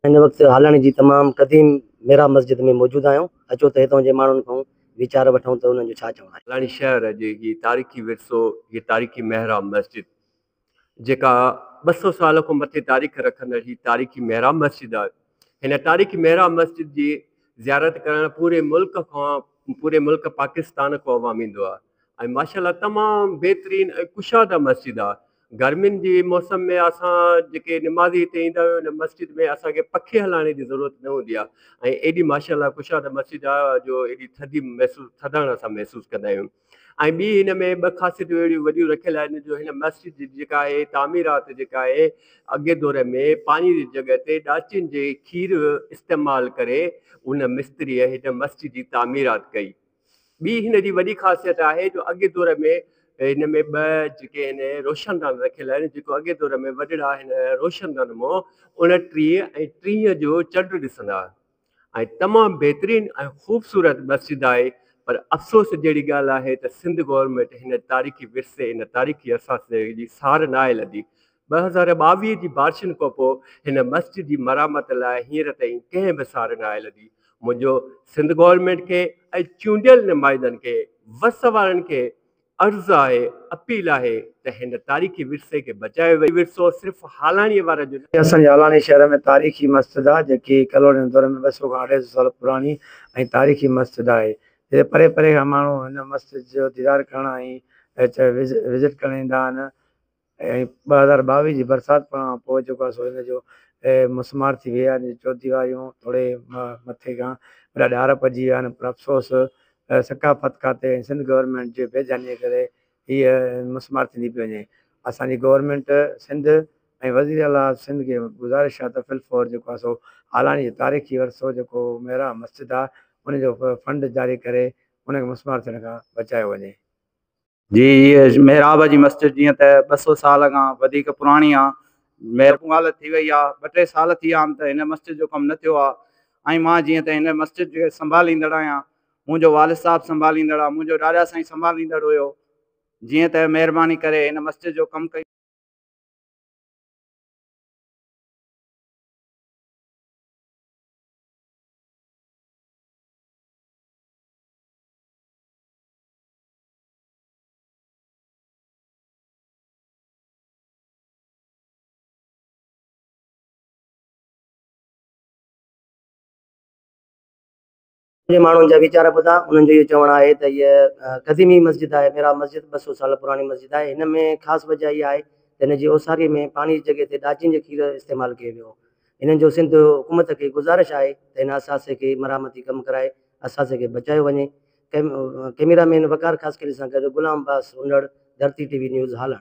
هن وقت هالڻ جي تمام قديم محراب مسجد ۾ موجود آهيون. اچو ته هتان جي ماڻهن کان ويچار وٺون ته انهن جو ڇا چوڻ آهي. هالڻ شهر جي هي تاريخي ورثو، هيء تاريخي محراب مسجد جيڪا ٻه سؤ سال کان مٿي تاريخ رکندڙ هي تاريخي محراب مسجد آهي. هن تاريخي محراب مسجد جي زيارت ڪرڻ پوري ملڪ کان پوري ملڪ پاڪستان کان عوام ايندو آهي. ۽ ماشاء الله تمام بهترين ۽ ڪشاده مسجد آ گرمين جي موسم ۾ اسان جيڪي نمازي هتي ايندا آهيون ان مسجد ۾ اسان کي پکي هلائڻ جي ضرورت نه هوندي آ ۽ ايڏي ماشاء الله ڪشاده مسجد آ جو ايڏي ٿڌي محسوس ٿڌاڻ اسان محسوس ڪندا آهيون ۽ ٻي هن ۾ ٻه خاصيتون اهڙيون وڏيون رکيل آهن جو هن مسجد جي جيڪا آهي تعميرات جيڪا آهي اڳي دور ۾ پاڻي جي جڳهه تي ڏاچين جي کير استعمال ڪري ان مستريء هن مسجد جي تعميرات ڪئي ٻي هن جي وڏي خاصيت آهي جو اڳئين دور ۾ هن ۾ ٻه جيڪي هن روشندان رکيل آهن جيڪو اڳئين دور ۾ وڏڙا هن روشندان مون اڻٽيهه ۽ ٽيهه جو چنڊ ڏسندا هئا ۽ تمام بهترين ۽ خوبصورت مسجد آهي پر افسوس جهڙي ڳالهه آهي ته سنڌ گورنمينٽ هن تاريخي ورثي ان تاريخي اثاثي جي سار ناهي لڌي ٻه هزار ٻاويهه جي بارشن کانپوء هن مسجد جي مرمت لاء هينئر تائين ڪنهن به سار ناهي لڌي. منهنجو سنڌ گورنمينٽ کي ۽ چونڊيل نمائندن کي وس وارن کي عرض آهي، اپيل آهي ته هن تاريخي ورثي کي بچايو وڃي. هي ورثو صرف هالاڻيء وارن جو نه. هي اسان جي هالاڻي شهر ۾ تاريخي مسجد آهي، جيڪي ڪالونين دور ۾ ٻه سؤ کان اڍائي سؤ سال پراڻي ۽ تاريخي مسجد آهي، جتي پري پري کان ماڻهو هن مسجد جو ديدار ڪرڻ ۽ وزٽ ڪرڻ ايندا آهن. ۽ ٻه هزار ٻاويهه جي برسات کان پوء جيڪو آهي سو ان جو مسمار ٿي ويئي آهي ان جون چوديواريون ٿوري مٿي کان وڏا ڏار پئجي ويا آهن پر افسوس ثقافت کاتي ۽ سنڌ گورنمينٽ جي بي ڌيانيء ڪري هيء مسمار ٿيندي پئي وڃي اسان جي گورنمينٽ سنڌ ۽ وزير اعليٰ سنڌ کي گذارش آهي ته فلفور جيڪو آهي سو هالاڻي جو تاريخي ورثو جيڪو ميرا مسجد آهي ان جو فنڊ جاري ڪري ان کي مسمار ٿيڻ کان بچايو وڃي. جي هيء محراب جي مسجد جيئن ته ٻه سؤ سال کان وڌيڪ پراڻي آ مير اهو حالت ٿي وئي آ ٻه ٽي سال ٿي آم ته هن مسجد جو ڪم نه ٿيو آ ۽ مان جيئن ته هن مسجد جي سنڀاليندڙ آهيان منهنجو والد صاحب سنڀاليندڙ آ منهنجو ڏاڏا سائين سنڀاليندڙ هيو جيئن ته مهرباني ڪري هن مسجد جو ڪم ڪيو جي ماڻهن جا ويچار ٻڌا انهن جو اهو چوڻ آهي ته هيء قديمي مسجد آهي محراب مسجد ٻه سؤ سال پراڻي مسجد آهي هن ۾ خاص وجه اها آهي ته هن جي اوساري ۾ پاڻي جي جڳهه تي ڏاچين جو کير استعمال ڪيو ويو هو هنن جو سنڌ حڪومت کي گذارش آهي ته هن اثاثي کي مرحمتي ڪم ڪرائي اثاثي کي بچايو وڃي ڪئميرا مين وقار خاصخيلي سان گڏ غلام Abbas Hondar, Dharti T V news Holland.